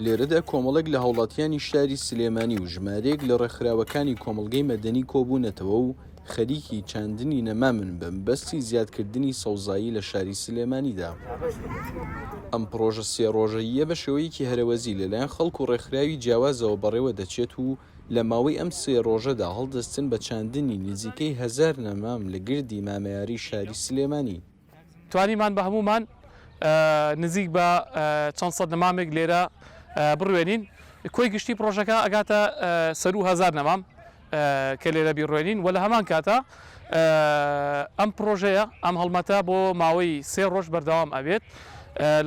لێرەدا کۆمەڵێک لە هاوڵاتیانی شاری سلێمانی و ژمارەیەک لە ڕێکخراوەکانی کۆمەڵگەی مەدەنی کۆبوونەتەوە و خەریکی چاندنی نەمامن بە مەبەستی زیادکردنی سەوزایی لە شاری سلێمانیدا. ئەم پڕۆژە سێ ڕۆژەییە بە شێوەیەکی هەرەوەزی لەلایەن خەڵک و ڕێکخراوی جیاوازەوە بەڕێوە دەچێت و لە ماوەی ئەم سێ ڕۆژەدا هەڵدەستن بە چاندنی نزیکەی هەزار نەمام لە گردی مامەیاری شاری سلێمانی. توانیمان بە هەموومان نزیک بە چەند سەد نەمامێک لێرە بڕوێنین. کۆی گشتی پڕۆژەکە ئەگاتە سەروو هەزار نەمام کە لێرە بیڕوێنین و لە هەمان کاتا ئەم پڕۆژەیە ئەم هەڵمەتە بۆ ماوەی سێ ڕۆژ بەردەوام ئەبێت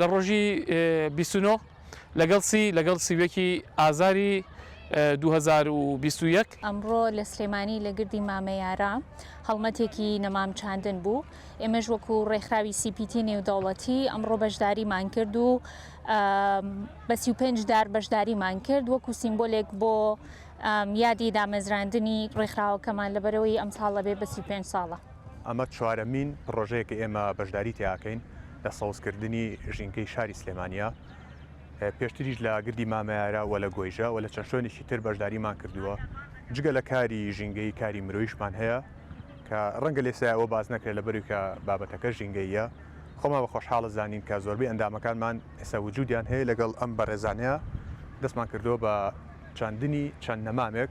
لە ڕۆژی بیست و نۆ لەگەڵ چی؟ لەگەڵ سی و یەکی ئازاری دوو هەزار و بیست و یەک. ئەمڕۆ لە سلێمانی لە گردی مامە یارا هەڵمەتێکی نەمام چاندن بوو ئێمەش وەکو ڕێکخراوی سیپیتی نێودەوڵەتی ئەمڕۆ بەشداریمان کرد و بە سی و پێنج دار بەشداریمان کرد وەکو سیمبۆلێک بۆ یادی دامەزراندنی ڕێکخراوەکەمان لەبەرەوەی ئەم ساڵە بێ بە سی و پێنج ساڵە. ئەمە چوارەمین پڕۆژەیە کە ئێمە بەشداری تیاکەین لە سەوزکردنی ژینگەی شاری سلێمانییە، پێشتریش لە گردی مامەیارە و لە گۆیژە و لە چەند شوێنێکی تر بەشداریمان کردووە، جگە لە کاری ژینگەیی کاری مرۆییشمان هەیە کە ڕەنگە لێسای ئەوە باس نەکرێت لەبەروی کە بابەتەکە ژینگەییە خۆمان بە خۆشحاڵە زانین کە زۆربەی ئەندامەکانمان ئێستا وجودیان هەیە لەگەڵ ئەم بەڕێزانەیە دەستمان کردووە بە چاندنی چەند نەمامێک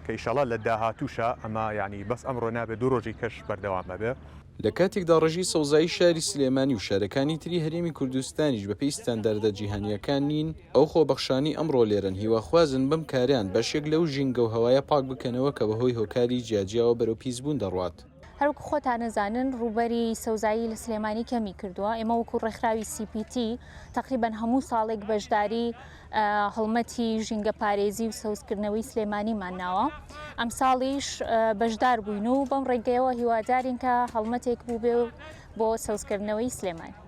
کە ئیشەڵا لە داهاتووشا ئەمە یانی بەس ئەمڕۆ نابێ دوو ڕۆژی کەش بەردەوام ئەبێ. لە کاتێکدا ڕێژەی سەوزایی شاری سلێمانی و شارەکانی تری هەرێمی کوردستانیش بەپێی ستانداردە جیهانییەکان نین، ئەو خۆبەخشانەی ئەمڕۆ لێرەن هیواخوازن بەم کارەیان بەشێک لەو ژینگە و هەوایە پاک بکەنەوە کە بەهۆی هۆکاری جیاجیاوە بەرەو پیسبوون دەڕوات. هەروەکو خۆتان ئەزانن ڕووبەری سەوزایی لە سلێمانی کەمی کردووە ئێمە وەکو ڕێکخراوی CPT تقریبەن هەموو ساڵێک بەشداری هەڵمەتی ژینگە پارێزی و سەوزکردنەوەی سلێمانیمان ناوە ئەم ساڵیش بەشدار بووین و بەم ڕێگەیەوە هیوادارین کە هەڵمەتێک بووبێ و بۆ سەوزکردنەوەی سلێمانی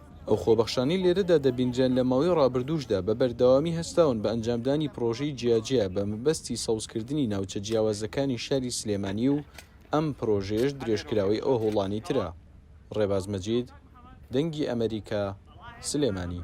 ئەو خۆبەخشانەی لێرەدا دەبینرێن لە ماوەی ڕابردووشدا بە بەردەوامی هەستاون بە ئەنجامدانی پڕۆژەی جیاجیا بە مەبەستی سەوزکردنی ناوچە جیاوازەکانی شاری سلێمانی و ئەم پڕۆژەیەش درێژکراوەی ئەو هەوڵانەی ترە. ڕێباز مەجید، دەنگی ئەمەریکا، سلێمانی.